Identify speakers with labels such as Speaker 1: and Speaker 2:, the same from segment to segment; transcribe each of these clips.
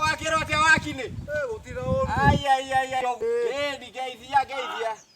Speaker 1: Wakira atĩa wakinĩ? Ai, ai, ai, ai. Geithia, geithia, geithia.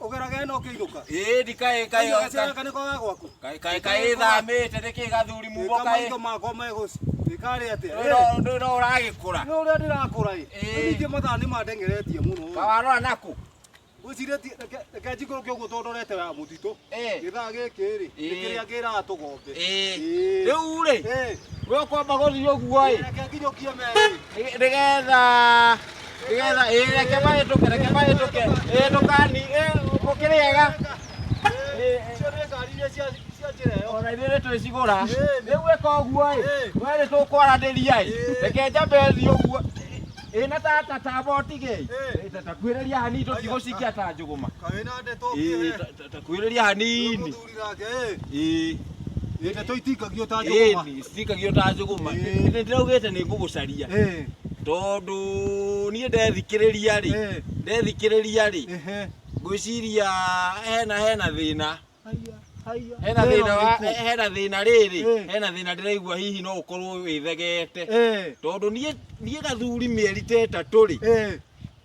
Speaker 1: Ũgerage ĩno ũkĩinũka. Ĩĩ ndikaĩ kaĩ Kaĩ gacera kanĩ kwa gwaku. kaĩ kaĩ kaĩ thamĩte nĩkĩ gathuri mugo Ĩka kaĩ maitho makwa megũci. Ĩkarĩ atĩa? Ĩĩ, ndũrĩ ndũrĩ ũragĩkũra Nĩ ũrĩa ndĩrakũra ĩ. Ĩĩ. Rĩu ningĩ mathaa nĩ mandengeretie mũno. ĩ. kawarora naku Ngwĩciria ti- reke- reke njikũrũke ũguo tondũ ndorete ya mũtitũ. Ĩĩ. Gĩthaa gĩkĩ rĩ, nĩ Ĩĩ. kĩrĩa ngĩraga tũgombe. Ĩĩ. Ĩĩ. rĩu rĩ Ĩĩ. we ũkwamba gũthiĩ ũguo ĩ Reke nginyũkie merĩ. nĩgetha nĩgetha ĩĩ reke mahĩtũke reke mahĩtũke ĩĩ ndũkani ĩĩ mũkĩrĩega ona ithuĩ nĩ twĩcigũra rĩu ĩka ũguo ĩ we nĩ tũkwaranĩria ĩ reke njambe thiĩ ũguo ĩĩ na tata tamba ũtigei Ĩĩ, ta- takuhĩrĩria hanini tũtigũcikia ta njũgũma Ĩĩ, ta- ta- takuhĩrĩria hanini itikagio ta njũgũma citikagio ta njũgũma Ĩĩ. nĩ ndĩraugĩte nĩ ngũgũcaria Ĩĩ, tondũ niĩ ndethikĩrĩria rĩ ĩĩ, ndethikĩrĩria rĩ ĩhĩ. ngwĩciria hena hena thĩna hena Thĩna thĩna wa ũrĩkũ? hena thĩna rĩrĩ Ĩĩ. hena thĩna ndĩraigua hihi no ũkorwo wĩthegete Ĩĩ, tondũ niĩ niĩ gathuri mĩeri ta ĩtatũ rĩ ĩĩ,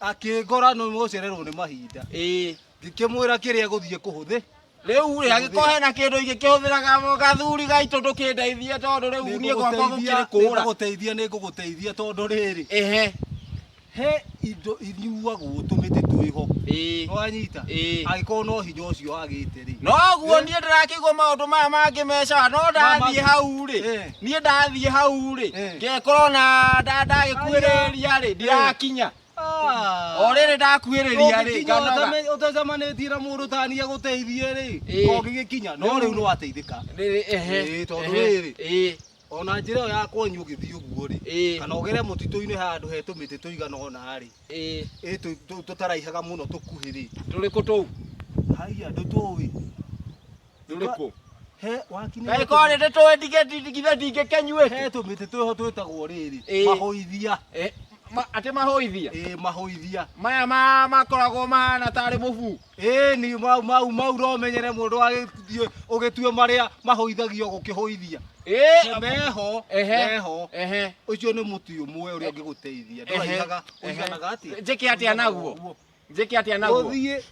Speaker 1: akĩngora nĩ mũcererwo nĩ mahinda ĩĩ ngĩkĩmwĩra kĩrĩa gũthiĩ kũhũthĩ rĩu rĩ angĩkorwo hena kĩndũ ingĩkĩhũthĩraga gathuri gaitũ ndũkĩndeithie tondũ rĩu niĩ gwakwa gũkĩrĩ kũra nĩngũgũteithia nĩngũgũteithia tondũ rĩrĩ ehe he indo inyuagwo tũmĩtĩ twĩho ĩĩ nĩwanyita Ĩĩ. angĩkorwo no hinya ũcio agĩte rĩ noguo niĩ ndĩrakĩigua maũndũ maya mangĩ meca no ndathiĩ hau rĩ Eh. niä ndathiä hau rä Eh. ngekorwo na nda- ndagäkuä rä ria rä ndirakinya Ah. o rä rä ndakuä rä ria rä Ũngĩkinya nganoga ũtame- ũtacemanĩtie na mũndũ tania gũteithie rĩ Ĩĩ. ũngĩgĩkinya no rĩu nĩwateithĩka Rĩrĩ, ehe, Ĩĩ, tondũ ehe, rĩrĩ. ĩĩ, ona njĩra ĩyo ya kwanyu ũgĩthiĩ ũguo rĩ ĩĩ, kana ũgere mũtitũ-inĩ handũ he tũmĩtĩ tũigana ũna rĩ ĩĩ. ĩ tũ- tũ- tũtaraihaga mũno tũkuhĩ rĩ tå rä kå tå u haiya ndũtũĩ Rĩrĩkũ? He wakinĩ. Kaĩ korĩ nĩ tũĩ ndigĩ ndigithe ndingĩkenyuĩte. He tũmĩtĩ twĩho twĩtagwo rĩrĩ. Ĩĩ. Mahũithia. Eh, ma- Atĩ mahũithia. Ĩĩ mahũithia. Maya ma- makoragwo mahana tarĩ mũbu. Ĩĩ ni mau mau mau romenyere mũndũ agĩthiĩ ũgĩtue marĩa mahũithagio gũkĩhũithia. Ĩĩ. Meho. Ehe. Meho. Ehe. Ũcio nĩ mũtĩ ũmwe ũrĩa ũngĩgũteithia. Ehe. Ndũraihaga. Ehe. Ũiganaga atĩa? Njĩke atĩa naguo? njĩke atĩa naguo ũthiĩ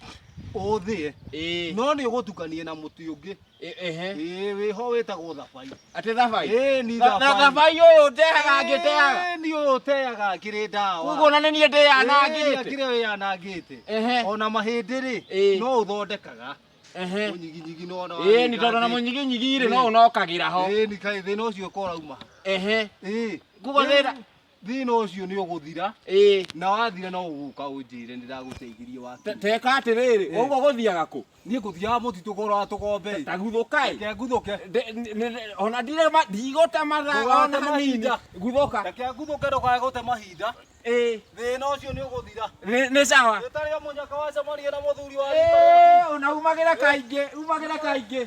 Speaker 1: ũthĩe Ĩĩ, no nĩ ũgũtukanie na mũtĩ ũngĩ ĩ- ehe ĩĩ wĩho wĩtagwo thabai atĩ thabai ĩĩ ni Tha- tha- thabai ũyũ ndehaga ngĩteaga Ĩĩ, ni ũyũ ũteaga akĩrĩ ndawa kuguo na nĩ niĩ ndĩyanangĩte akĩrĩ wĩyanangĩte Ehe. ona mahĩndĩ rĩ Ĩĩ. no ũthondekaga Ehe. ũnyiginyigi no ona ĩĩ nĩ tondũ na mũnyiginyigi rĩ no ũnokagĩra ho ĩĩ ni kaĩ thĩna ũcio ũkorauma ehe ĩĩ kuguo thĩna thina ucio ni uguthira ii na wathira no uguka unjire ndiraguteigirie waki teka atiriri Eh. uguo guthiaga ku nie nguthiaga mutitu gora tukombe taguthuka i reke nguthuke Nde- ni- ni- ona ndire ma- ndigũte mathaa Ndũgate ona hanini mahinda. guthuka reke nguthuke ndukae gute mahinda ĩ thina ucio ni uguthira nĩ nĩ sawa itari munyaka wa samaria na muthuri wa Ĩ, ona umagĩra kaingĩ umagĩra kaingĩ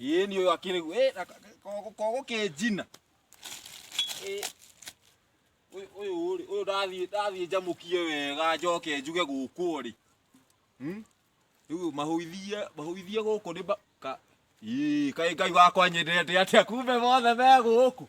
Speaker 1: Ĩĩ ni uyu akiri eh na kogo ke jina. Eh. Uyu uyu ri uyu ndathie ndathie njamukie wega njoke njuge guku ri. Hmm? Riu mahuithie mahuithie guku ni ka Ii, kai ngai wakwa nyendete atia kumbe mothe me guku.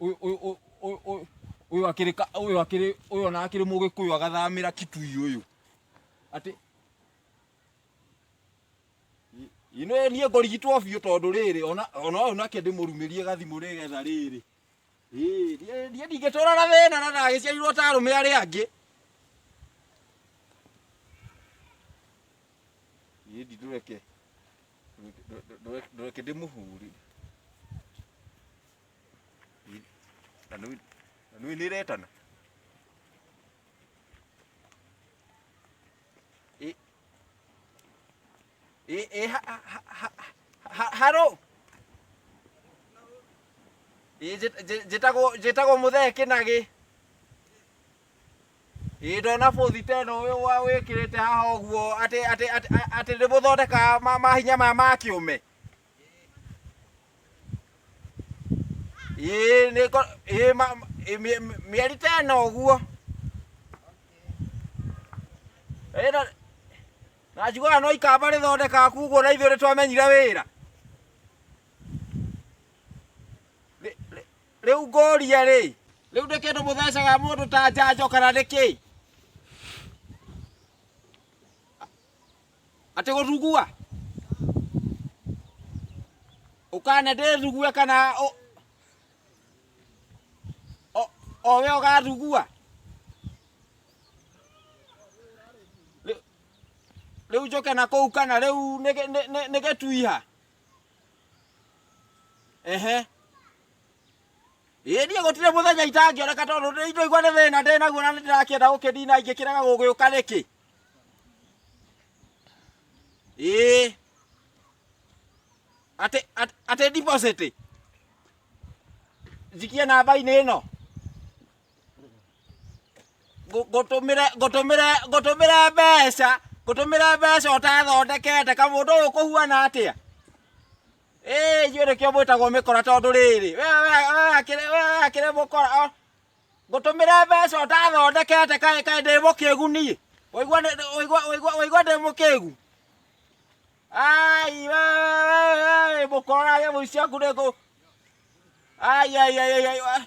Speaker 1: Uyu- uyu- uyu- uyu- uyu- uyu akiri ka- uyu akiri uyu ona akiri mugikuyu agathamira kitui uyu ati ino nie ngorigitwo biũ tondũ rĩrĩ ona ona ũyũ nake ndĩmũrumĩrie gathimũ nĩgetha rĩrĩ Ĩĩ, niĩ- niĩ ndingĩtũra na thĩna na ndagĩciarirwo ta arũme arĩa angĩ niĩ ndi ndũreke ndũ- ndũ- ndũ- ndũreke ndĩmũhũri Ĩ, na nĩ- na nĩ nĩretana Eh, eh, ha, ha, ha, ha, ha, haro. Eh, njĩ- njĩ- njĩtagwo njĩtagwo mũthee kĩnagĩ ĩ ndona bũthi teno ũyũ wa wĩkĩrĩte haha ũguo atĩ atĩ atĩ atĩ nĩ mũthondekaga ma- mahinya maya ma kĩũme ĩ nĩ ngo- ĩ ma- ĩ mĩ- mĩ- mĩeri teno ũguo ĩno Na njiguaga no ikamba rĩthondekaga kuguo na ithuĩ nĩtwamenyire wĩra. Rĩ- rĩ- Rĩu ngũria rĩ, rĩu nĩ kĩndũ mũthecaga mũndũ ta njanjo kana nĩ kĩĩ? Atĩ gũthugua? Ũkane ndĩthugue kana ũ- o- o we ũgathugua? Rĩ- rĩu njoke na kũu kana rĩu nĩ- nĩ- nĩ- nĩ gĩtuiha ehe ĩĩ niĩ gũtirĩ mũthenya itangĩoneka tondũ nĩ- ndoigua nĩ thĩna ndĩ naguo na nĩ ndĩrakĩenda gũkĩnina ingĩkĩrega gũgĩũka rĩkĩ ĩĩ atĩ atĩ- atĩ deposit njikie namba-inĩ ĩno ngũtũmĩre ngũtũmĩre ngũtũmĩre mbeca ngũtũmĩre mbeca ũtathondekete kamũndũ ũyũ kũhuana atĩa ĩĩ ithuĩ nĩkĩo mwĩtagwo mĩkora tondũ rĩrĩ we we we akĩrĩ we we akĩrĩ mũkora o, ngũtũmĩre mbeca ũtathondekete kaĩ kaĩ ndĩ mũkĩgu niĩ waigua nĩ- nĩ- waigua waigua waigua ndĩ mũkĩgu ai we we we we mũkora nyamũ ici ciaku nĩ ngũ ai ai ai ai, ai wa-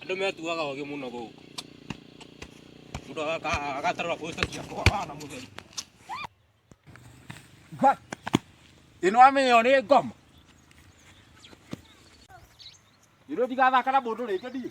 Speaker 1: Andũ metuaga ogĩ mũno gũkũ. Mũndũ agaka- agatarũra posta cia kũhũra na mũtheri. Ngai, ĩno amenya ĩyo nĩ ngoma. Ĩno ndigathaka na mũndũ rĩngĩ ndiĩ.